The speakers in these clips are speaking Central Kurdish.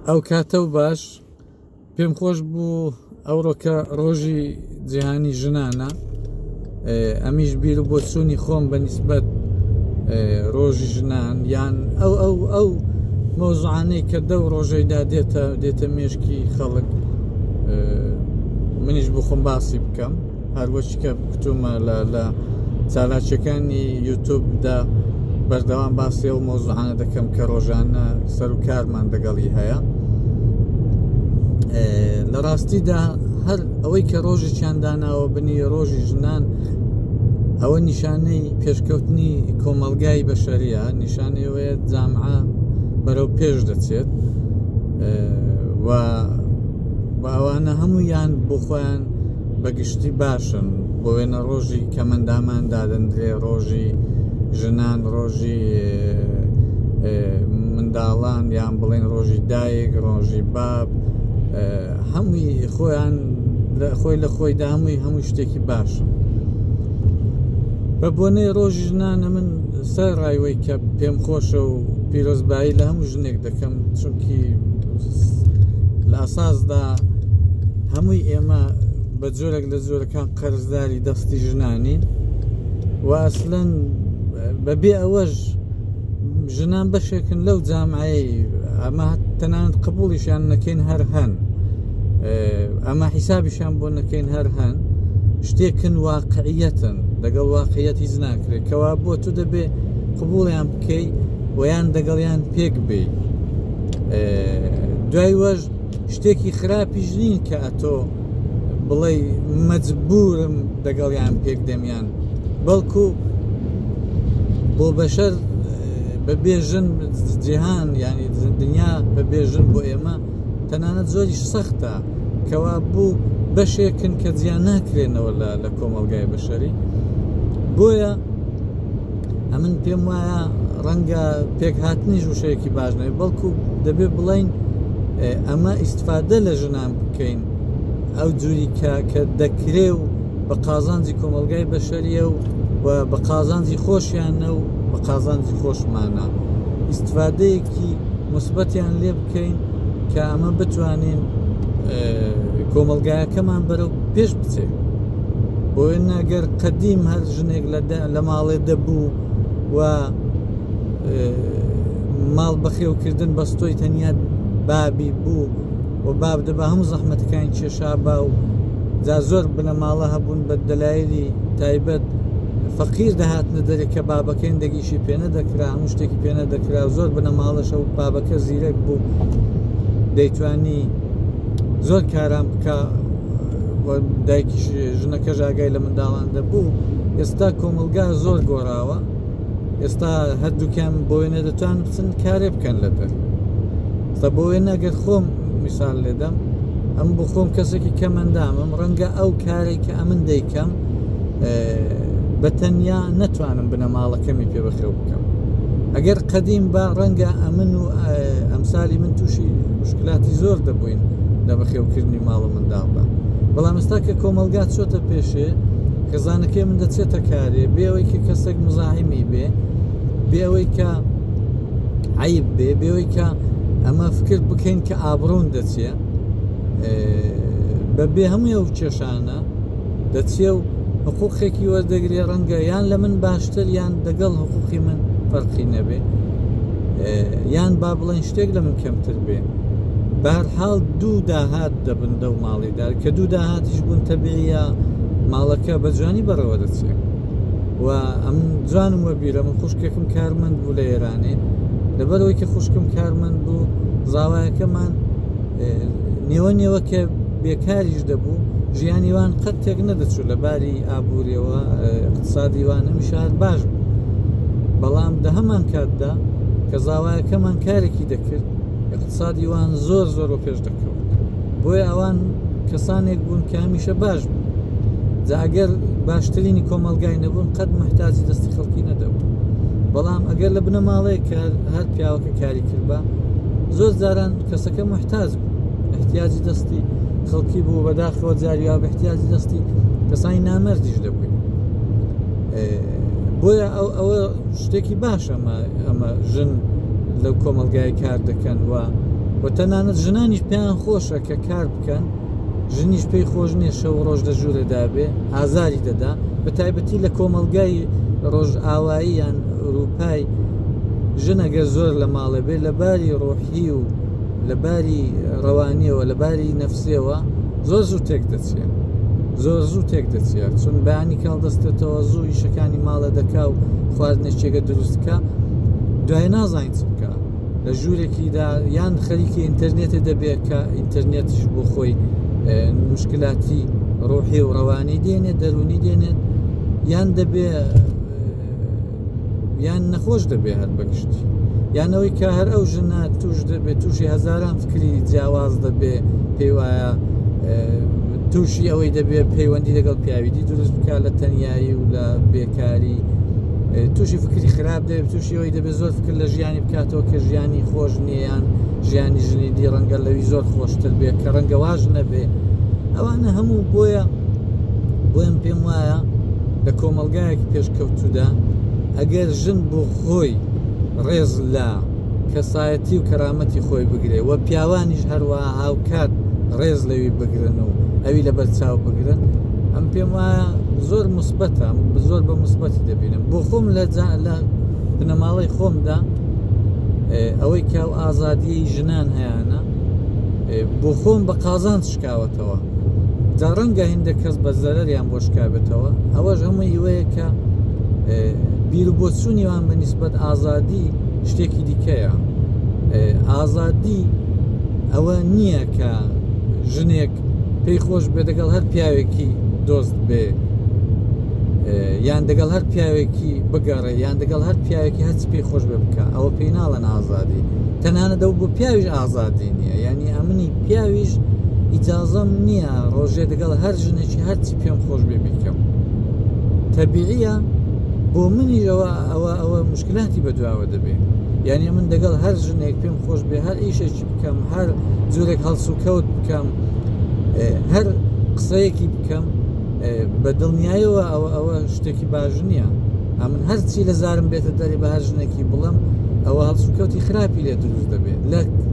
ئەو کاتە و باش پێم خۆش بوو ئەوڕۆکە ڕۆژی جیهانی ژنانە ئەمیش بیر و بۆچوونی خۆم بە نسبەت ڕۆژی ژنان یان ئەو ئەو ئەو مۆزعانەی کە دە و ڕۆژەیدا دێتە دێتە مێشکی خەڵک منیش بخۆم باسی بکەم هەروەک کە گوتومە لە لە چالاکیەکانی یوتوبدا بەردەوام باسی ئەو مۆزوعانە دەکەم کە ڕۆژانە سەر و کارمان دەگەڵی هەیە لە ڕاستیدا هەر ئەوەی کە ڕۆژێکیان داناوە بنی ڕۆژی ژنان ئەوە نیشانەی پێشکەوتنی کۆمەلگای بەشەریە نیشانەی وەیە جامعە بەرەو پێش دەچێت و ئەوانە هەموویان بۆ خۆیان بە گشتی باشن بۆ وێنە ڕۆژی کەمەندامان دادەندرێ ڕۆژی ژنان ڕۆژی منداڵان یان بڵێن ڕۆژی دایک ڕۆژی باب هەمووی خۆیان خۆی لە خۆیدا هەمووی هەموو شتێکی باشە بە بۆنەی ڕۆژ ژنانە من سەر ڕایوەی کە پێم خۆشە و پیرۆزبایی لە هەموو ژنێک دەکەم چونکی لە ئاساسدا هەمووی ئێمە بە جۆرێک لە جۆرەکان قەرزداری دەستی ژنانین و ئەسلەن بەبێ ئەوەش ژنان بەشێکن لەو جامعەیە ئەمە تەنانەت قبولیشیان نەکەین هەر هەن ئەمە حیسابیشان بۆ نەکەین هەر هەن شتێکن واقعیەتن دەگەڵ واقعیەت هیچ ناکرێت کەوا بۆ تو دەبێ قبولیان بکەیت ویان دەگەڵیان پێک بێ دوای وەش شتێکی خراپیش نین کە ئەتۆ بڵێ مەجبورم دەگەڵیان پێک دەمیان بەڵکو بۆ بەشەر بە بێژن جیهان ینی دنیا بە بێژن بۆ ئێمە تەنانەت زۆری سەختە کەوا بوو بەشێکن کە جیان ناکرێنەوە لە لە کۆمەلگای بەشەری بۆیە ئەمن پێم وایە ڕەنگە پێکهاتنیش وشەیەکی باش نەوێت بەڵکو دەبێت بڵین ئەمە ئیسفادە لە ژنان بکەین ئەو جووری کە کە دەکرێ و بە قازانجی کۆمەلگای بەشەریە و و بە قازانجی خۆشیانە و بە قازانجی خۆشمانە ئیسفادەیەکی مثبەتیان لێ بکەین کە ئەمە بتوانین کۆمەلگایەکەمان بەرەو پێش بچێت بۆ ناگەر قدیم هەر ژنێک لە ماڵێ دەبوو و ماڵ بەخێوکردن بەستۆی تەنیا بابی بوو و باب دەبا هەموو زەحمەتەکان کێشا با و جا زۆر بنەماڵە هەبوون بە دەلایلی تایبەت فەقیر دەهاتنە دەرێک کە بابەکەین دەگیشی پێنە دەکرا هەموو شتێکی پێنە دەکرا زۆر بنەماڵەشە و بابەکە زیرەک بوو دەیتوانی زۆر کاران بکە دایکی ژنەکە ژاگای لە منداڵان دەبوو ئێستا کۆمەلگا زۆر گۆڕاوە ئێستا هەردووکیان بۆێنە دەتوان بچن کارێ بکەن لەتر سە بۆێ نەگەر خۆم میسال لێدەم ئەم بۆ خۆم کەسێکی کەمەندامم ڕەنگە ئەو کارێک کە ئەمن دەیکەم بە تەنیا نەتوانم بنەماڵەکەمی پێ بخەوم بکەم ئەگەر قەدیم با ڕەنگە ئەمن و ئەمسالی من تووشی مشکلاتی زۆر دەبووین لە بەخێوکردنی ماڵ و منداڵدا بەڵام ئستا کە کۆمەلگات چۆتە پێشێ خێزانەکەی من دەچێتە کارێ بێەوەی کە کەسێک مزاحیمی بێ بێەوەی کە عیب بێ بێەوەی کە ئەمە فکر بکەین کە ئابڕون دەچێ بە بێ هەموو ئەو کێشانە دەچێ و حقوقێکی وەردەگرێ ڕەنگە یان لە من باشتر یان دەگەڵ حقوقی من فەرقی نەبێ یان با بڵێن شتێک لە من کەمتر بێ بارحاڵ دوو داهات دەبن دەو ماڵیدار کە دوو داهاتیش بوون تەبیە ماڵەکە بە جوانی بەڕەوە دەچێت و ئەم جوانم وەبیرە من خوشکێکم کارمەند بوو لە ئێرانێ لەبەرەوەی کە خوشکم کارمەند بوو زاوایەکەمان نێوە نێوە کە بێکاریش دەبوو ژیانی وان قەت تێک نەدەچوو لە باری ئابووریەوە اقتصادی وان هەمی شار باش بوو بەڵام دە هەمان کاتدا کە زاوایەکەمان کارێکی دەکرد اقتصادی وان زۆر زۆر و پێش دەکەوت بۆی ئەوان کەسانێک بوون کە هەمیشە باش بوو جاگەر باشترینی کۆمەلگای نەبوون قەت محتاجی دەستی خەڵکی نەدەبوو بەڵام ئەگەر لە بنەماڵەیە کە هەر پیاوەکە کاری کردبا زۆر جاران کەسەکە محتاج بوو احتیاجی دەستی خەڵکی بوو بەداخەوە جاریا بە احتیاجی دەستی کەسانی نامەردیش دەبووین بۆیە ئەو ئەوە شتێکی باش ئەمە ئەمە ژن لەو کۆمەلگای کار دەکەن و و تەنانەت ژنانیش پێیان خۆشە کە کار بکەن ژنیش پێی خۆش نیە شەو ڕۆژ لە ژوورە دابێ ئازاری دەدا بە تایبەتی لە کۆمەلگای ڕۆژ ئاوایی یان ئەوروپای ژنەگە زۆر لە ماڵێ بێ لە باری ڕۆحی ی و لە باری ڕەوانیەوە لە باری نەفسیەوە زۆر زوو تێک دەچێ زۆر زوو تێک دەچێ چون بەیانی کاڵ دەستێتەوە زوو ئیشەکانی ماڵە دەکا و خواردنێکێگە دروستکە دوای نازانین چ بکە لە ژوورێکیدا یان خەریکی ئینتەرنێتە دەبێت کە ئینتەرنێتش بۆ خۆی مشکلاتی ڕۆحی و ڕەوانی دێنێت دەرونی دێنێت یان دەبێ یان نەخۆش دەبێ هەر بەگشت یان ئەوەی کە هەر ئەو ژنە توش دەبێت تووشی هەزاران فکری جیاواز دەبێ پێی وایە تووشی ئەوەی دەبێت پەیوەندی لەگەڵ پیاویدی دروست بکە لە تەنایی و لە بێکاری تووشی فکری خراپ دەبێت تووشی ئەوەی دەبێت زۆر فکر لە ژیانی بکاتەوە کە ژیانی خۆش نییان ژیانی ژنی دی ڕەنگە لەوی زۆر خۆشتر بێت کە ڕەنگە واژ نەبێ ئەوانە هەموو بۆیە بۆیان پێم وایە لە کۆمەڵ دەزگایەکی پێشکەوتوودا ئەگەر ژن بۆ خۆی ڕێز لە کەسایەتی و کەرامەتی خۆی بگرێ و پیاوانیش هەروە هاوکات ڕێز لەوی بگرن و ئەوی لە بەرچاو بگرن ئەم پێم وایە زۆر مثبەتە زۆر بە مثبەتی دەبینم بۆ خۆم لە لە بنەماڵەی خۆمدا ئەوەی کاو ئازادیی ژنان هەیەە بۆ خۆم بە قازان شکاوە بکەوێتەوە جا ڕەنگە هندە کەس بە زەرەریان بۆ شکابێتەوە ئەوەش هەموو ئیوەیە کە بیر بۆ چوونیوان بە نسبەت ئازادی شتێکی دیکەیە ئازادی ئەوە نییە کە ژنێک پێی خۆش بێ دەگەڵ هەر پیاوێکی دۆست بێ یان دەگەڵ هەر پیاوێکی بگەڕێ یان دەگەڵ هەر پیاوێکی هەچ پێی خۆش بێ بکە ئەوە پێی ناڵەن ئازادی تەنانە دەو بۆ پیاویش ئازادی نییە ینی ئەمنی پیاویش ئیجازەم نییە ڕۆژێ دەگەڵ هەر ژنێکی هەرچی پێم خۆش بێ بیکەم تەبیعە بۆ منیەوە ئەوە ئەوە مشکلاتی بەدواوە دەبێت یعنی من دەگەڵ هەر ژنێک پێم خۆش بێ هەر ئیشێکی بکەم هەر جورێک هەڵسو کەوت بکەم هەر قسەیەکی بکەم بە دڵنیایەوە ئەوە ئەوە شتێکی باش نییە ئەمن هەرچی لە زارم بێتە دەرێ بە هەر ژنێکی بڵم ئەوە هەڵسوکەوتی خراپی لێ دروست دەبێت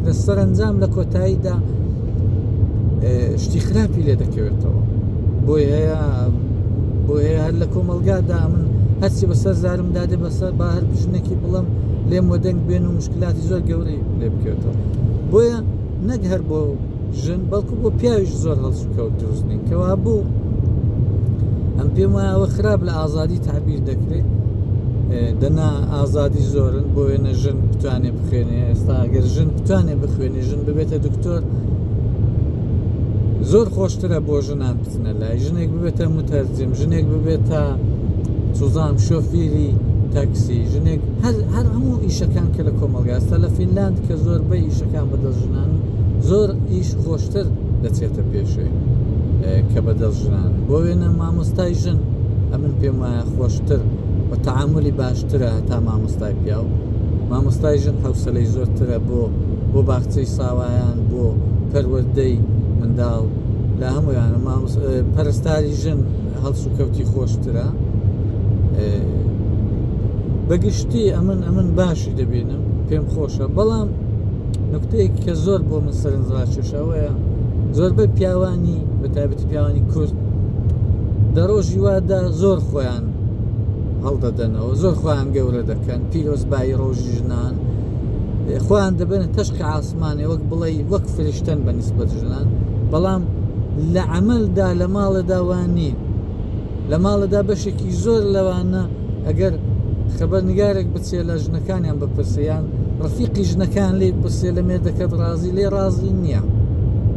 لە سەرنجام لە کۆتاییدا شتی خراپی لێ دەکەوێتەوە بۆی هەیە بۆ هەیە هەر لە کۆمەلگادا من هەرچی بەسەر زارم دادێ بەسەر با هەر ژنێکی بڵم لێم وەدەنگ بێن و مشکلاتی زۆر گەورەی لێ بکەێتەوە بۆیە نەک هەر بۆ ژن بەڵکو بۆ پیاویش زۆر هەڵسوکەوت دروست بین کەوا بوو ئەم پێم وایە ئەوە خراپ لە ئازادی تعبیر دەکرێت دەنا ئازادی زۆرن بۆ وێنە ژن بتوانێ بخوێنێ ئێستا ئەگەر ژن بتوانێ بخوێنی ژن ببێتە دکتۆر زۆر خۆشترە بۆ ژنان چونە لای ژنێک ببێتە متەرجم ژنێک ببێتە سوزان شۆفیری تاکسی ژنێک هەر هەر هەموو ئیشەکان کە لە کۆمەلگاستە لە فینلاند کە زۆر بە ئیشەکان بەدەست ژنان زۆر ئیش خۆشتر دەچێتە پێشێ کە بەدەست ژنان بۆ وێنە مامۆستای ژن ئەمن پێم وایە خۆشتر بە تعاملی باشترە تا مامۆستای پیاو مامۆستای ژن حوسلەی زۆرترە بۆ بۆ باخچەی ساوایان بۆ پەروەدەی منداڵ لە هەمویانە مامۆس پەرستاری ژن هەڵسو کەوتی خۆشترە بەگشتی ئەمن ئەمن باشی دەبینم پێم خۆشە بەڵام نکتەیەک کە زۆر بۆ من سەرنجڕاکێشەوەیە زۆربەی پیاوانی بە تایبەتی پیاوانی کورد دە ڕۆژی وادا زۆر خۆیان هەڵدەدەنەوە زۆر خۆیان گەورە دەکەن پیرۆزبایی ڕۆژی ژنان خۆیان دەبێنە تەشقی عاسی ئاسمانێ وەک بڵێی وەک فرشتەن بە نیسبەت ژنان بەڵام لە عەمەلدا لە ماڵەدا وان نین لە ماڵەدا بەشێکی زۆر لەوانە ئەگەر خەبەر نگارێک بچێ لە ژنەکانیان بپرسیان ڕفیقی ژنەکان لی پرسێ لە مێردەکەت ڕازی لێ ڕازی نییە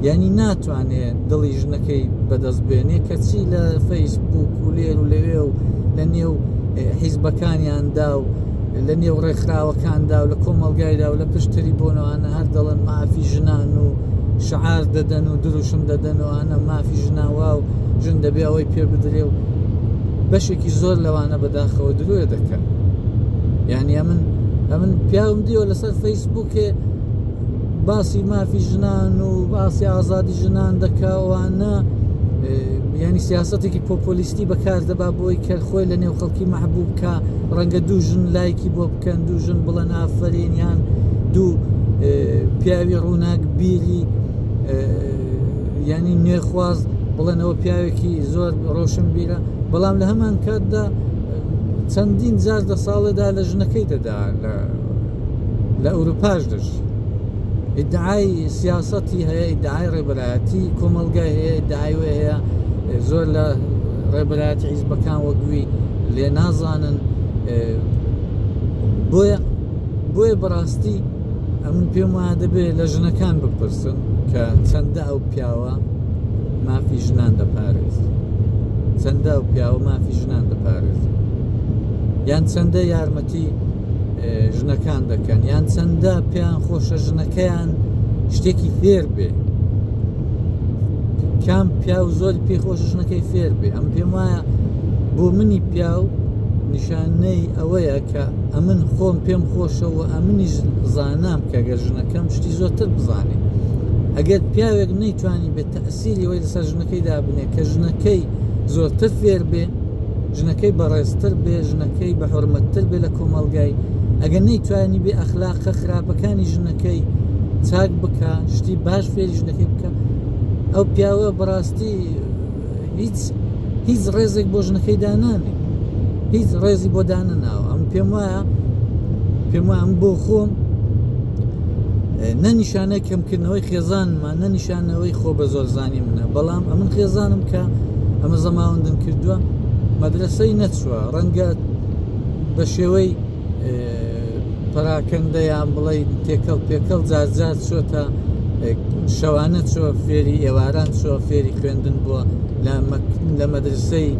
یعنی ناتوانێ دڵی ژنەکەی بەدەست بێنێ کەچی لە فەیسبوک و لێر و لەوێ و لە نێو حیزبەکانیاندا و لە نێو ڕێکخراوەکاندا و لە کۆمەڵگایدا و لە پشت تری بۆنەوانە هەر دەڵێن مافی ژنان و شعار دەدەن و دروشم دەدەن و ئەە مافی ژناوا و ژن دەبێ ئەوەی پێ بدرێ و بەشێکی زۆر لەوانە بەداخەوە درۆێ دەکەن یعنی ئەمن ئەمن پیاوم دیوە لەسەر فەیسبووکێ باسی مافی ژنان و باسی ئازادی ژنان دەکەوانە ینی سیاستێکی پۆپۆلیستی بەکاردەبا بۆی کە خۆی لە نێو خەڵک عەشقی مەحبوب کە ڕەنگە دوو ژن لایکی بۆ بکەن دوو ژن بڵەن ئافرین یان دوو پیاوی ڕووناک بیری ینی نوێخواز بڵێنەوە پیاوێکی زۆر ڕۆشن بیرە بەڵام لە هەمان کاتدا چەندین جار دە ساڵێدا لە ژنەکەی دەدا لە لە ئەوروپاش دەژی ئیدعای سیاستی هەیە ئیدعای ڕێبەرایەتی کۆمەلگای هەیە داوێ هەیە زۆر لە ڕێبەرایەتی حیزبەکان وەک وی لێ نازانن بۆیە بۆیە بەڕاستی ئەم پێم وایە دەبێت لە ژنەکان بپرسن کە چەندە ئەو پیاوە مافی ژنان دەپارێز چەندە ئەو پیاوە مافی ژنان دەپارێز یان چەندە یارمەتی ژنەکان دەکەن یان چەندە پێیان خۆشە ژنەکەیان شتێکی فێر بێ کام پیاو زۆر پێ خۆش ژنەکەی فێر بێ ئەم پێم وایە بۆ منی پیاو نیشانەی ئەوەیە کە ئەمن خۆم پێم خۆشەوە ئەمنیش زانام کە گەر ژنەکەم شتی زۆرتر بزانێ ئەگەر پیاوێک نەیتوانی بێت تەسیری وەی لەسەر ژنەکەی دابنێ کە ژنەکەی زۆرتر فێر بێ ژنەکەی بەڕێزتر بێ ژنەکەی بە حرمەتتر بێ لە کۆمەلگای ئەگەر نەیتوانی بێ ئەخلاقە خراپەکانی ژنەکەی چاک بکە شتی باش سەیری ژنەکەی بکە ئەو پیاوە بەڕاستی هیچ هیچ ڕێزێک بۆ ژنەکەی دانانێ هیچ ڕێزی بۆ دانەناوە ئەم پێم وایە پێم وایە ئەم بۆ خۆم نەنیشانە کەمکردنەوەی خێزانمان نەنیشانەوەی خۆ بە زۆر زانی منە بەڵام ئەمن خێزانم کە ئەمە زەماوەندم کردووە مەدرسەی نەچوە ڕەنگە بە شێوەی پەراکەندە یان بڵێ تێکەڵ پێکەڵ جارجار چۆتە شەوانە چۆ فێری ئێواران چۆ فێری خوێندن بووە لە مەدرسەی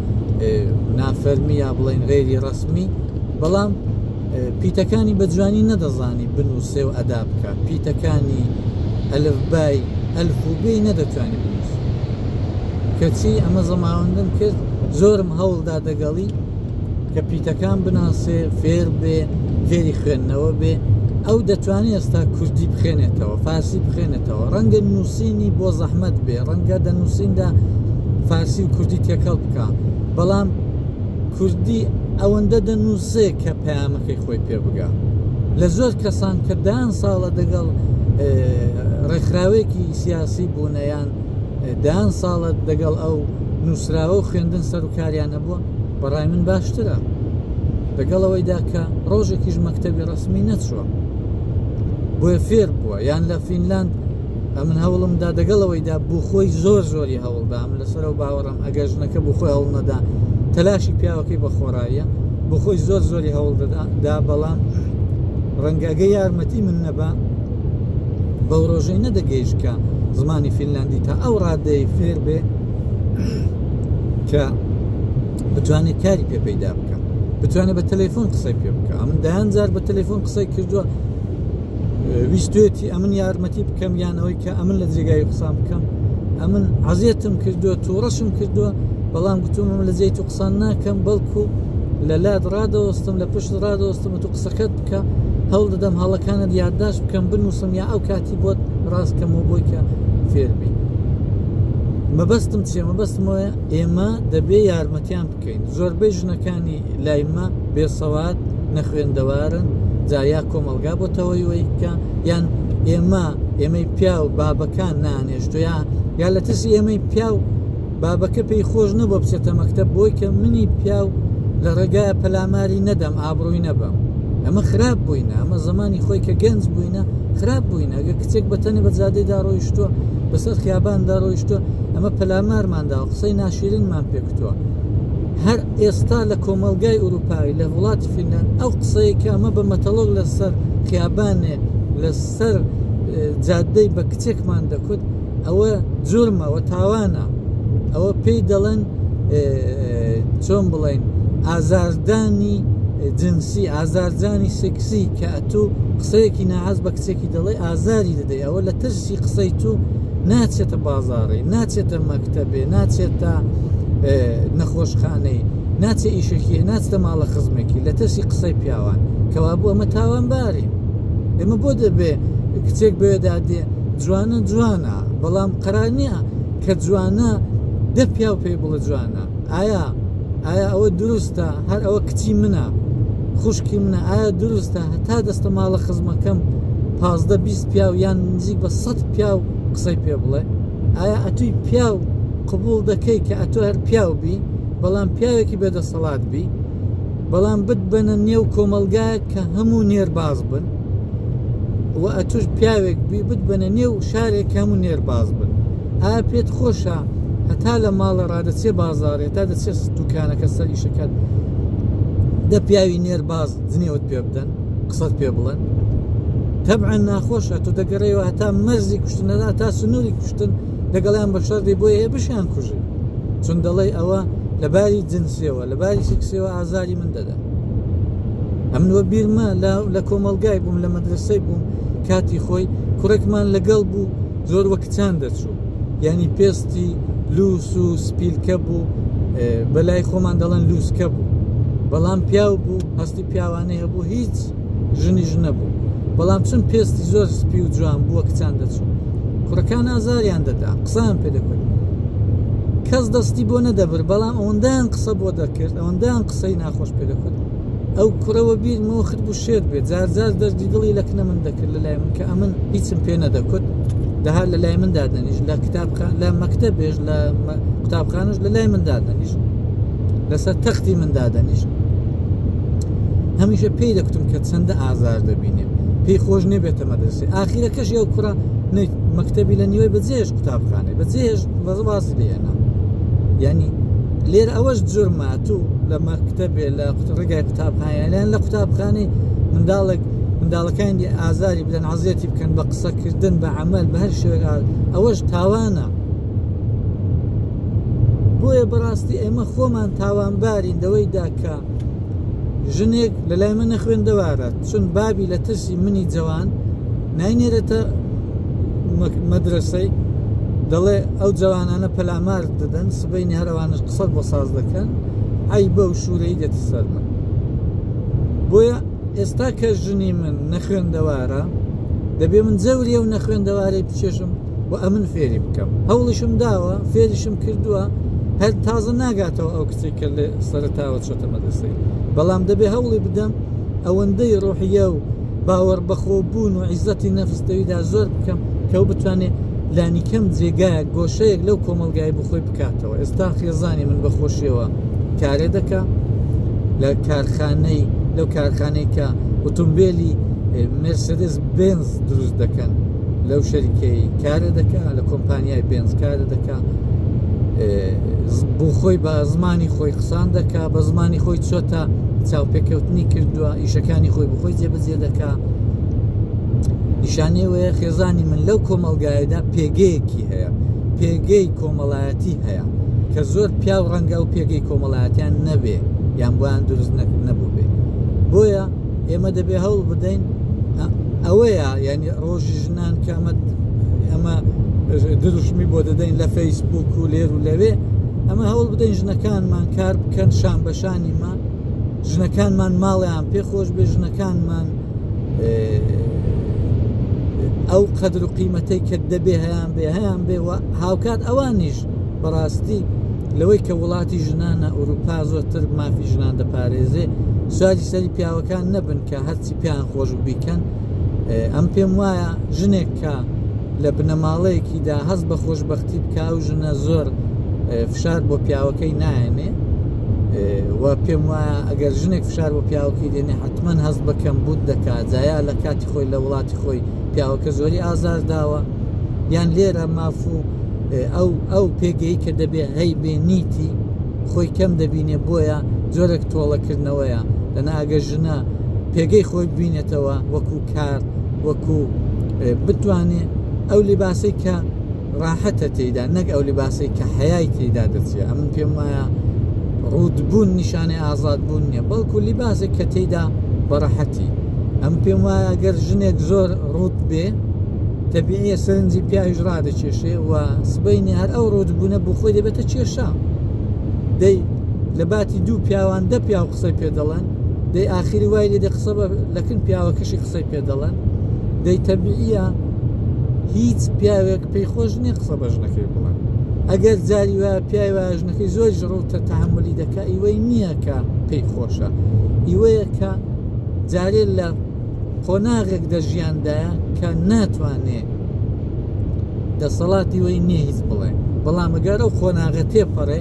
نافەرمی یا بڵین غێری ڕسمی بەڵام پیتەکانی بە جوانی نەدەزانی بنووسێ و ئەدا بکە پیتەکانی ئەلفبای ئەلفوبی نەدەتوانی بنووس کەچی ئەمە زەماوەندن کرد زۆرم هەوڵدا دەگەڵی کە پیتەکان بناسێ فێر بێ فێری خوێندنەوە بێ ئەو دەتوانێت ئێستا کوردی بخێنێتەوە فارسی بخێنێتەوە ڕەنگە نووسینی بۆ زەحمت بێ ڕەنگە دە نووسیندا فارسی و کوردی تێکەڵ بکە بەڵام کوردی ئەوەندە دەنووسێ کە پامەکەی خۆی پێ بگە لە زۆر کەسان کە دان ساڵە دەگەڵ ڕێکخراوێکی سیاسی بوونەیان دان ساڵە دەگەڵ ئەو نووسراوە و خوێندن سەرکاریان هەبووە بەڕای من باشترە لەگەڵ ئەوەیدا کە ڕۆژێکیش مەکتتەبی ڕسمی نەچووە بۆیە فێر بووە یان لە فینلاند ئەمن هەوڵمدا دەگەڵ ئەوەیدا بوو خۆی زۆر زۆری هەوڵدام لەسەر و باوەڕم ئەگەر ژنەکە بۆ خۆی هەوڵ نەدا تەلاشی پیاوەکەی بە خۆڕاییە بۆ خۆی زۆر زۆری هەوڵ دەدا بەڵام ڕەنگەگە یارمەتی من نەبا بەو ڕۆژەی نەدەگەیشکە زمانی فینلاندی تا ئەو ڕادەی فێر بێ کە بتوانێت کاری پێ پەیدا بکە بتوانێت بە تەلەفۆن قسەی پێ بکە ئەمن دایان جار بە تەلەفۆن قسەی کردووە ویستێتی ئەمن یارمەتی بکەم یانەوەی کە ئەمن لە جێگای قسان بکەم ئەمن عزیەتم کردووە تووڕەشم کردووە بەڵام گوتومم لە جێی تو قسان ناکەم بەڵکو لە لات ڕادەوەستم لە پشت ڕادەوەستم و تو قسەکەت بکە هەوڵ دەدەم هەڵەکانت یادداشت بکەم بنووسم یا ئەو کاتی شتی بۆت ڕاست کەمەوە بۆی کە فێربی مەبەستم چێ مەبەستمەوە ئێمە دەبێ یارمەتیان بکەین زۆربەی ژنەکانی لایمە بێسەوات نەخوێندەوارن جا یا کۆمەلگا بۆ تەوەیوەی بکە یان ئێمە ئێمەی پیاو بابەکان نانێشتۆ یا یا لە ترسی ئێمەی پیاو بابەکە پێی خۆش نەبوە بچێتە مەکتەب بۆی کە منی پیاو لە ڕێگایە پەلاماری نەدەم ئابڕووی نەبم ئەمە خراپ بووینە ئەمە زمانی خۆی کە گەنج بووینە خراپ بووینە ئەگە کچێک بەتەنی بە جادەیدا ڕۆیشتووە بەسەر خیاباندا ڕۆیشتووە ئەمە پەلامارماندا و قسەی ناشیرنمان پێکوتووە هەر ئێستا لە کۆمەلگای ئوروپایی لە وڵاتی فینلند ئەو قسەیە کە ئەمە بە مەتەڵۆک لەسەر خیابانێ لەسەر جادەی بە کچێکمان دەکوت ئەوە جورمە ئەوە تاوانە ئەوە پێی دەڵێن چۆن بڵێن ئازاردانی جنسی ئازارجانی سکسی کە ئەتوو قسەیەکی ناهاز بە کچێکی دەڵێ ئازاری دەدەی ئەوە لە ترسی قسەی تو ناچێتە بازارڕێ ناچێتە مەکتتەبێ ناچێتە نەخۆشخانەی ناچێ ئیشەکی ناچتە ماڵە خزمێکی لە ترسی قسەی پیاوان کەوا بوو ئەمە تاوان بارین ئێمە بۆ دەبێ کچێک بێدا دێ جوانە جوانە بەڵام قەرار نییە کە جوانە دە پیاو پێی بڵە جوانە ئایا ئایا ئەوە دروستە هەر ئەوە کچی منە خوشکی منە ئایا دروستە هەتا دەستە ماڵە خزمەکەم پازدە بیست پیاو یان نزیک بە سەد پیاو قسەی پێ بڵێ ئایا ئەتوی پیاو قبول دەکەی کە ئەتۆ هەر پیاو بی بەڵام پیاوێکی بێدەسەڵات بی بەڵام بت بەنە نێو کۆمەلگایە کە هەموو نێرباز بن و ئەتوش پیاوێک بی بتبەنە نێو شارێک هەموو نێر باز بن ئا پێت خۆشە هەتا لە ماڵە ڕادەچێ بازارێ تا دەچێت دوکانەکە سەر ئیشەکەت دە پیاوی نێر باز دنێوت پێ بدەن قسەت پێ بڵێن تەبعا ناخۆشە تۆ دەگەڕێەوە هەتا مەرزی کوشتنەدا تا سنووری کوشتن دەگەڵیان بە شەردی بۆ هەیە بشیان کوژی چون دەڵێ ئەوە لەباری جنسیەوە لەباری سکسیەوە ئازاری من دەدا ئەمن وە بیرمە لە لە کۆمەڵگای بووم لە مەدرسەی بووم کاتی خۆی کوڕێکمان لەگەڵ بوو زۆر وە کچان دەچوو یعنی پێستی لوس و سپیلکە بوو بەلای خۆمان دەڵەن لوسکە بوو بەڵام پیاو بوو هەستی پیاوانەیە بوو هیچ ژنی ژنە بوو بەڵام چون پێستی زۆر سپی و جوان بووە کچان دەچوو کوڕەکان ئازاریان دەدا قسان پێ دەکرد کەس دەستی بۆ نەدەبر بەڵام ئەوەندەیان قسە بۆ دەکرد ئەوەندەیان قسەی ناخۆش پێ دەکوت ئەو کوڕە وەبیر مۆخت بوو شێت بێت جار جار دەردی دڵی لە کنە من دەکرد لە لای من کە ئەمن هیچم پێ نەدەکوت دەها لە لای من دادەنیش لە کتاب لە مەکتە بێژ لە قوتابخانش لە لای من دادەنیش لەسەر تەختی من دادەنیش هەمیشە پێی دەکتم کە چەندە ئازار دەبینێت پێی خۆش نێبێتە مەدرسی ئاخیرەکەش ئەو کوڕە مەکتتەبی لە نیوەی بەجێش قوتابخانێ بەجێش بەزباسی لێنا ینی لێر ئەوەش جرمە تو لە مەکتتەبێ لە ڕێگای قوتابخانیان لە قوتابخانی منداڵێک منداڵەکانی ئازاری بدەن عزیەتی بکەن بە قسەکردن بە عمل بە هەر شوێن ئەوەش تاوانە بۆیە بەڕاستی ئێمە خۆمان تاوانبارین دەوەی داکە ژنێک لە لای منە خوێندەوارە چون بابی لە ترسی منی جەوان ناینێرێتە مەدرسەی دەڵێ ئەو جوانانە پەلامار دەدەن سبەی نهرەوانش قسە بۆ ساز دەکەن ئەی بە و شوورەی دێتە سەر من بۆیە ئێستا کە ژنی من نەخوێندەوارە دەبێ من جەوریە و نەخوێندەوارەی بچێشم و ئەمن فێری بکەم هەوڵیشم داوە فێریشم کردووە هەر تازە ناگاتەوە ئەو کچی کە لێ سەرتاوە چۆتە مەدەسەی بەڵام دەبێ هەوڵی بدەم ئەوەندەی ڕۆحیە و باوەڕ بەخۆ بوون و عیزەتی نەفستەویدا زۆر بکەم کەو بتوانێت لانیکەم جێگایە گۆشەیەک لەو کۆمەلگای بخۆی بکاتەوە ئێستا خێزانی من بەخۆشیەوە کارێ دەکە لە کارخانەی لەو کارخانەی کە ئۆتۆمبیلی مرسدس بنز دروست دەکەن لەو شەریکەی کارە دەکا لە کۆمپانیای بێنز کارە دەکا بۆ خۆی بە زمانی خۆی قسان دەکا بە زمانی خۆی چۆتە چاوپێکەوتنی کردووە ئیشەکانی خۆی بخۆی جێبەجێ دەکا نیشانەی وەیە خێزانی من لەو کۆمەلگایەدا پێگەیەکی هەیە پێگەی کۆمەڵایەتی هەیە کە زۆر پیاو ڕەنگە و پێگەی کۆمەڵایەتیان نەبێ یان بۆیان دروست نەبوو بێ بۆیە ئێمە دەبێ هەوڵ بدەین ئەوەیە یعنی ڕۆژی ژنان کامەت ئەمە دروشمی بۆ دەدەین لە فەیسبوک و لێر و لەوێ ئەمە هەوڵ بدەین ژنەکانمان کار بکەن شان بەشانیمان ژنەکانمان ماڵیان پێ خۆش بێ ژنەکانمان ئەو قەدر و قیمەتەی کە دەبێ هەیان بێ هەیان بێ هاوکات ئەوانیش بەڕاستی لەوەی کە وڵاتی ژنانە ئەوروپا زۆرتر مافی ژنان دەپارێزێ سواری سەری پیاوەکان نەبن کە هەرچی پیان خۆش بیکەن ئەم پێم وایە ژنێک کە لە بنەماڵەیەکیدا هەست بە خۆشببختی بکە و ژنە زۆر فشار بۆ پیاوەکەی نایەنێ و پێم وایە ئەگەر ژنێک فشار بۆ پیاوەکەی دێنێ حتمما هەست بەکەم بوت دەکات جایا لە کاتی خۆی لە وڵاتی خۆی پیاوەکە زۆری ئازار داوە یان لێرە مافوو ئەو ئەو پێگەی کە دەبێ هەی بێ نیتی خۆی کەم دەبینێ بۆیە جۆرەك تۆڵەکردنەوەیە لەنا ئەگە ژنە پێگەی خۆی ببینێتەوە وەکو کار وەکو بتوانێ ئەو لیباسی کە ڕاحەتە تێدا نەک ئەو لیباسی کە حەیای تێدا دەچێت ئەم پێم وایە ڕوودبوون نیشانەی ئازاد بوون نییە بەڵکو لیباسێک کە تێدا بەڕەحەتی ئەم پێم وایە گەر ژنێک زۆر ڕوت بێ دەبینێ سەرنجی پیاویش ڕادەکێشێ و سبینێ هەر ئەو ڕوودبوونە بۆ خۆی دەبێتە کێشە دەی لە باتی دوو پیاوان دە پیاو قسەی پێ دەڵێن دەی ئاخری وای لێ دە قسە لەکن پیاوەکەشی قسەی پێ دەڵێن دەی تەبیە هیچ پیاوێک پێی خۆش نیە قسە بە ژنەکەی بڵێن ئەگەر جاری وە پیاوی وە ژنەکەی زۆر ژڕوتە تحملی دەکە ئیوەی نییە کە پێی خۆشە ئیوەیە کە جارێ لە قۆناغێک دە ژیاندا کە ناتوانێ دەسەڵاتی وی نییە هیچ بڵێ بەڵام ئەگەر ئەو قۆناغە تێپەڕێ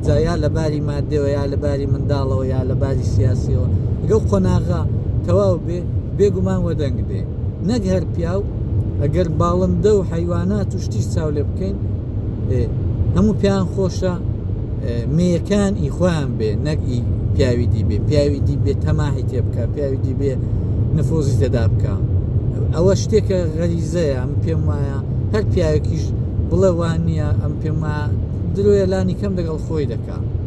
جایا لە باری مادەوە یا لە باری منداڵەوە یا لە باری سیاسیەوە گە قۆناغا تەواو بێ بێگومان وەدەنگ بێ نەک هەر پیاو ئەگەر باڵندە و حیوانات و شتیش چاو لێ بکەین هەموو پیان خۆشە مێیەکان ئی خۆیان بێ نەک ئی پیاوی دی بێ پیاوی دی بێ تەماهی تێ بکە پیاوی دی بێ نفۆزی تێدا بکە ئەوە شتێکە غەریزەیە ئەم پێم وایە هەر پیاوێکیش بڵێ وان نییە ئەم پێم درۆیە لانی کەم دەگەڵ خۆی دەکە ئەمریکا.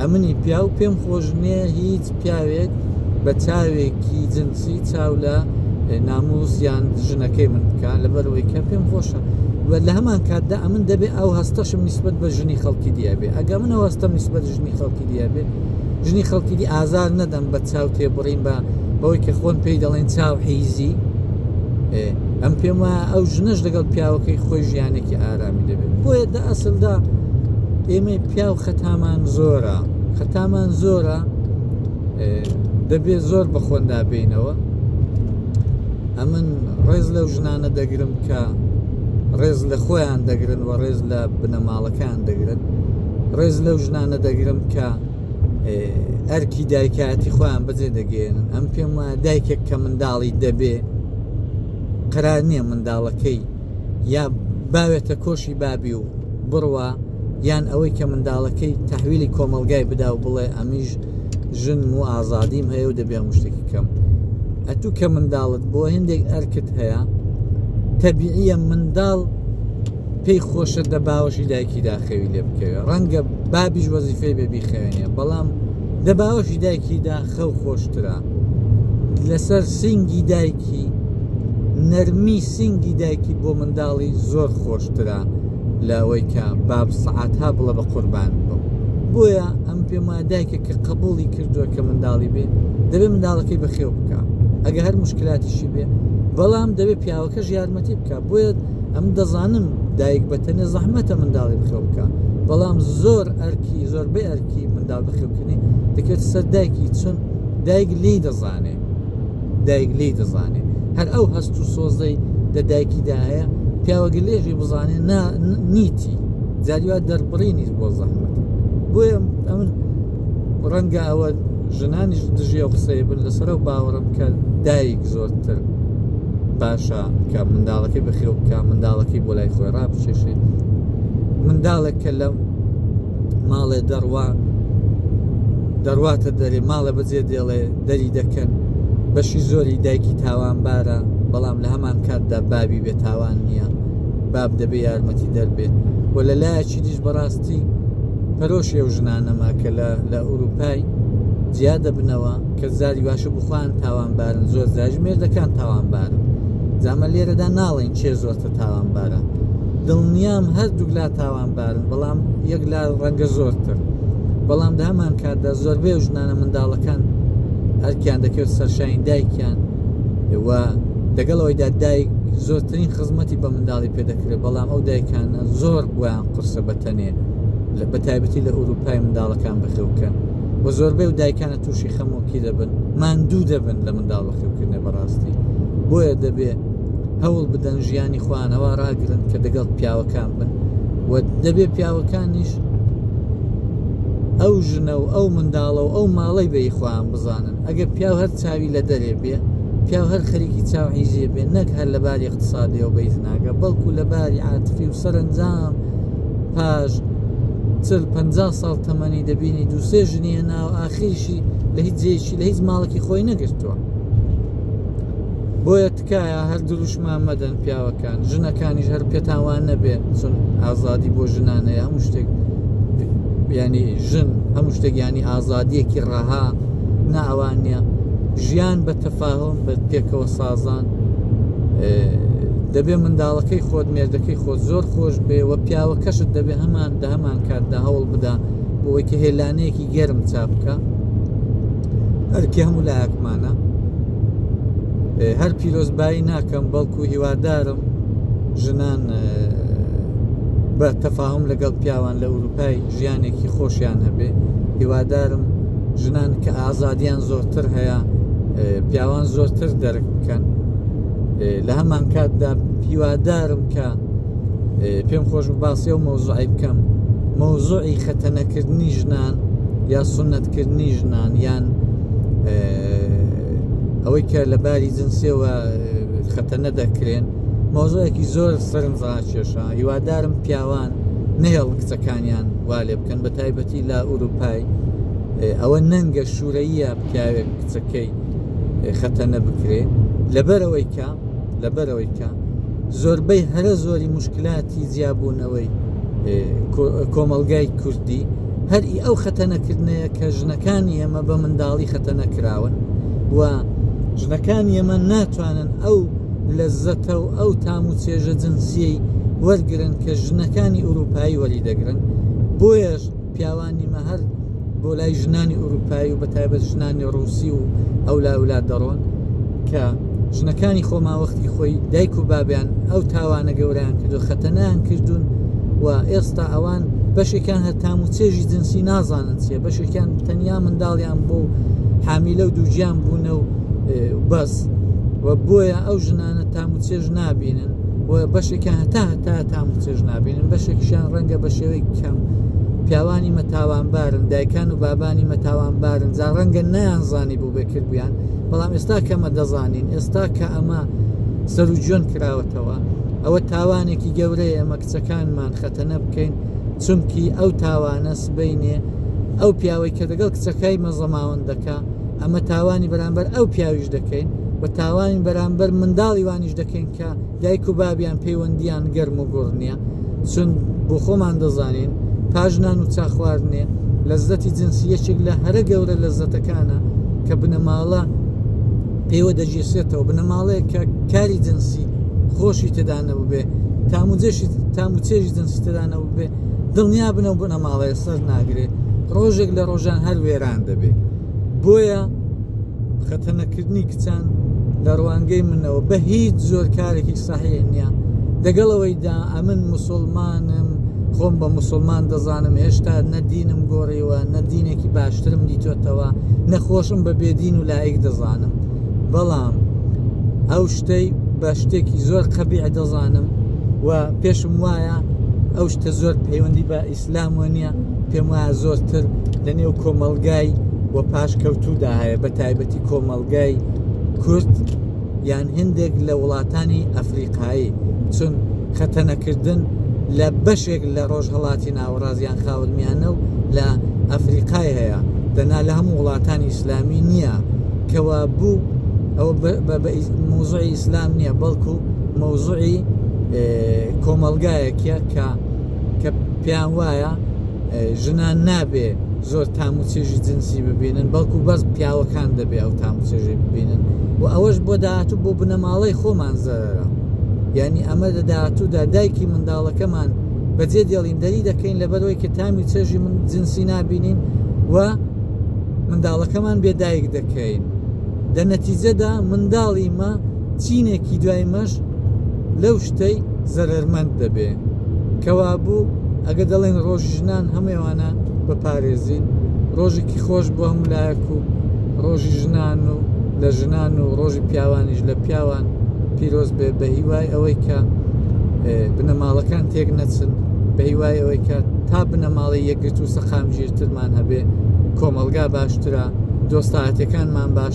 ئەمنی پیاو پێم خۆش نیە هیچ پیاوێک بە چاوێکی جنسی چاو لە ناموس یان ژنەکەی من بکە لەبەرەوەی کە پێم خۆشە و لە هەمان کاتدا ئەمن دەبێ ئەو هەستەشم نسبت بە ژنی خەڵکی دیابێ ئەگە من ئەو هەستەم نسبت ژنی خەڵکی دیابێ ژنی خەڵکی دی ئازار نەدەم بە چاو تێبڕین بە بەوەی کە خۆن پێی دەڵێن چاو حیزی ئەم پێم وایە ئەو ژنەش لەگەڵ پیاوەکەی خۆی ژیانێکی ئارامی دەبێت بۆیە ئەسڵدا ئێمەی پیاو خەتامان زۆرە خەتامان زۆرە دەبێت زۆر بە خۆندا بینەوە ئەمن ڕێز لەو ژنانە دەگرم کە ڕێز لە خۆیان دەگرن و ڕێز لە بنەماڵەکان دەگرن ڕێز لەو ژنانە دەگرم کە ئەرکی دایکایەتی خۆیان بەجێ دەگەێنن ئەم پێم وایە دایکێک کە منداڵی دەبێ قرار نییە منداڵەکەی یا باوێتە کۆشی بابی و بڕوا یان ئەوەی کە منداڵەکەی تحویلی کۆمەلگای بدا و بڵێ ئەمیش ژن و ئازادیم هەیە و دەبێ مشتێکی کەم ئەتوو کە منداڵت بۆ هندێک ئەرکت هەیە تەبیعە منداڵ پێی خۆشە دە باوەشی دایکی داخەوی لێ بکەوێت ڕەنگە بابیش وەزیفەی بێبی خوێنە بەڵام دە باوەشی دایکی دا خەو خۆشترە لەسەر سینگی دایکی نەرمی سینگی دایکی بۆ منداڵی زۆر خۆشترە لە ئەوەی کە باب سعات ها بڵە بە قوربان بم بۆیە ئەم پێم وایە دایکە کە قبولی کردووە کە منداڵی بێ دەبێ منداڵەکەی بەخێو بکە ئەگە هەر مشکلاتیشی بێ بەڵام دەبێت پیاوەکەش یارمەتی بکە بۆیە ئەم دەزانم دایک بەتەنێ زەحمەتە منداڵی بخێو بکە بەڵام زۆر ئەرکی زۆربەی ئەرکی منداڵ ناو بخێوکردنی دەکرێت سەر دایکی چون دایک لی دەزانێ دایک لی دەزانێ هەر ئەو هەست و سۆزەی لە دایکیدا هەیە پیاوەگە لێژی بزانێ نیتی جاریوا دەربڕینی بۆ زەحمەت بۆیە ئەمن ڕەنگە ئەوە ژنانیش دژی ئەو قسەی بن لەسەر و باوەڕم کە دایک زۆرتر باشە کە منداڵەکەی بەخێو بکە منداڵەکەی بۆ لای خۆی ڕابچێشێت منداڵێک کە لەم ماڵێ دەڕوا دەڕواتە دەرێ ماڵە بەجێ دێڵێ دەری دەکەن بەشی زۆری دایکی تاوانبارە بەڵام لە هەمان کاتدا بابی بێتاوان نییە باب دەبێ یارمەتی دەربێت و لە لایەکی دیش بەڕاستی پەرۆش ئێو ژنانەما کە لە ئوروپای جیا دەبنەوە کە زاری باشە بخوان تاوانبارن زۆر زاژ مێردەکان تاوانبارن جامە لێرەدا ناڵێن چێ زۆر تاوانبارە دڵنیام هەردووک لا تاوانبارن بەڵام یەک لا ڕەنگە زۆرتر بەڵام لە هەمان کاتدا زۆربەی ژنانە منداڵەکان ئەرکیان دەکرد سەرشانی دایکیان و دەگەڵەوەیدا دایک زۆرترین خزمەتی بە منداڵی پێدەکرێت بەڵام ئەو دایکانە زۆر بۆیان قرسە بەتەنێ لە بەتایبەتی لە ئوروپای منداڵەکان بەخێوکەن و زۆربەی و دایکانە تووشی خەمۆکی دەبن ماندوو دەبن لە منداڵ بەخێوکردنە بەڕاستی بۆیە دەبێت هەوڵ بدەن ژیانی خوانەوە ڕاگرن کە دەگەڵ پیاوەکان بن و دەبێ پیاوەکانیش ئەو ژنە و ئەو منداڵە و ئەو ماڵی بەی خۆیان بزانن ئەگەر پیاو هەر چاوی لە دەرێ بێ پیاو هەر خەریکی چاو عیزیێ بێ نەک هەر لە باری اقتصادیەوە بەی زناگە بەڵکو لە باری عاتفی و سەرنجام پاش چل پ ساڵ تەمەنی دەبینی دووسێ ژنیە ناو ئاخیشی لە هیچ جێشی لە هیچ ماڵکی خۆی نەگرتووە بۆیە تکایە هەر دروشمان مەدەن پیاوەکان ژنەکانیش هەر پێتاوان نەبێت چون ئازادی بۆ ژنانەیە هەموو شتێک بیانی ژن هەموو شتێک ینی ئازادیەکی ڕەها ناوان نیە ژیان بە تەفاهۆم بە پێکەوە سازان دەبێ منداڵەکەی خۆت مێردەکەی خۆت زۆر خۆش بێ و پیاوە کەشت دەبێ هەمان دە هەمان کاتدا هەوڵ بدا بۆەوەی کە هێلانەیەکی گەرم چاپکە ئەرکی هەموو لایەکمانە هەر پیرۆزبایی ناکەم بەڵکو هیوادارم ژنان بە تەفاهم لەگەڵ پیاوان لە ئەوروپای ژیانێکی خۆشیان هەبێ هیوادارم ژنان کە ئازادیان زۆرتر هەیە پیاوان زۆرتر دەرک بکەن لە هەمان کاتدا هیوادارم کە پێم خۆش باسی و مۆزوعی بکەم مۆزوعی خەتەنەکردنی ژنان یا سنت کردنی ژنان یان ئەوەی کە لە باری جنسیەوە خەتە نەدەکرێن مۆزۆیەکی زۆر سەرم ڕاکێشا هیوادارم پیاوان نهێڵ کچەکانیان وا لێ بکەن بە تایبەتی لە ئوروپای ئەوە نەنگە شوورەیە پیاوێک کچەکەی خەتە نەبکرێ لەبەرەوەی کە لەبەرەوەی کە زۆربەی هەرە زۆری مشکلاتی جیابوونەوەی کۆمەلگای کوردی هەر ئی ئەو خەتەنەکردنەیە کە ژنەکانی ئێمە بە منداڵی خەتەنە کراون و ژنەکانی ئێمە ناتوانن ئەو لە زەتە و ئەو تام و چێژە جنسیەی وەرگن کە ژنەکانی ئوروپایی وەری دەگرن بۆیەش پیاوانی مە هەر بۆ لای ژنانی ئوروپایی و بە تایبەت ژنانی ڕوسی و ئەولا ولا دەڕۆن کە ژنەکانی خۆ ماوەختی خۆی دایک و بابیان ئەو تاوانە گەوریان کردو خەتەنیان کردوون و ئێستا ئەوان بەشێکیان هەر تام و چێژی جنسی نازانن چیە بەشێکیان تەنیا منداڵیان بۆ حامیلە و دووگیان بوونە و بەس و بۆیە ئەو ژنانە تام و چێژ نابینن و بەشێکیان هەتا هەتا تام و چێژ نابینن بەشێکشیان ڕەنگە بە شێوەی کەم پیاوانی مەتاوانبارن دایکان و بابانی مەتاوانبارن جا ڕەنگە نیان زانی بۆ بێ کردویان بەڵام ئێستا کەمە دەزانین ئێستا کە ئەمە سەرجۆن کراوەتەوە ئەوە تاوانێکی گەورەیە ئەمە کچەکانمان خەتەنە بکەین چونکی ئەو تاوانە سبینێ ئەو پیاوەی کە دەگەڵ کچەکەی مەزەماون دەکا ئەمە تاوانی بەرامبەر ئەو پیاویش دەکەین و تاوانی بەرامبەر منداڵی وانیش دەکەین کە دایک و بابیان پەیوەندیان گەرم و گوڕ نییە چون بۆ خۆمان دەزانین پاش نان و چا خواردنێ لەزەتی جنسی یەکێک لە هەرە گەورە لەزەتەکانە کە بنەماڵە پێوە دەگیرسێتەوە بنەماڵەیە کە کاری جنسی خۆشی تێدانەوە بێ تاموجێشی تاموچێژی جنسی تێدانەوە بێ دڵنیا بنەو بنەماڵەیە سەر ناگرێت ڕۆژێک لە ڕۆژان هەر وێران دەبێت بۆیە خەتەنەکردنی کچان لە ڕوانگەی منەوە بە هیچ زۆر کارێکی ساحەیە نییە دەگەڵەوەیدا ئەمن مسلمانم خۆم بە مسلمان دەزانم هێشتا نەدینم گۆڕیوە نەدینێکی باشترم دیتۆتەوە نەخۆشم بە بێدین و لایەک دەزانم بەڵام ئەو شتەی بە شتێکی زۆر قەبیع دەزانم و پێشم وایە ئەو شتە زۆر پەیوەندی بە ئیسلام وەنیە پێم وایە زۆرتر لە نێو کۆمەلگای و پاش کەوتودا هەیە بە تایبەتی کۆمەلگای کورد یان هندێک لە وڵاتانی ئەفریقایی چون خەتەنەکردن لە بەشێک لە ڕۆژهڵاتی ناوەڕازیان خاورمیانە و لە ئەفریقای هەیە دەنا لە هەموو وڵاتانی ئیسلامی نییە کەوا بوو ئەوە موزعی ئیسلام نییە بەڵکو مەوزعی کۆمەلگایەکە کە کە پێیان وایە ژنان نابێ زۆر تام و چێژی جنسی ببینن بەڵکو بەس پیاوەکان دەبێ ئەو تام و چێژی ببینن و ئەوەش بۆ داهاتوو بۆ بنەماڵەی خۆمان زەرەرە یعنی ئەمە لە داهاتوودا دایکی منداڵەکەمان بەجێ دێڵیندەری دەکەین لەبەرەوەی کە تامی چێژی من جنسی نبینین و منداڵەکەمان بێدایک دەکەین لە نەتیجەدا منداڵی مە چینێکی دوای مەش لەو شتەی زەرەرمەند دەبێ کەوابوو ئەگە دەڵێن ڕۆژی ژنان هەموێوانە بەپارێزین ڕۆژێکی خۆش بۆ هەموو لایەک و ڕۆژی ژنان و لە ژنان و ڕۆژی پیاوانیش لە پیاوان پیرۆز بێ بە هیوای ئەوەی کە بنەماڵەکان تێک نەچن بە هیوای ئەوەی کە تا بنەماڵی یەکگرت و سەقامگیرترمان هەبێ کۆمەلگا باشترە دۆستایەتەکانمان باش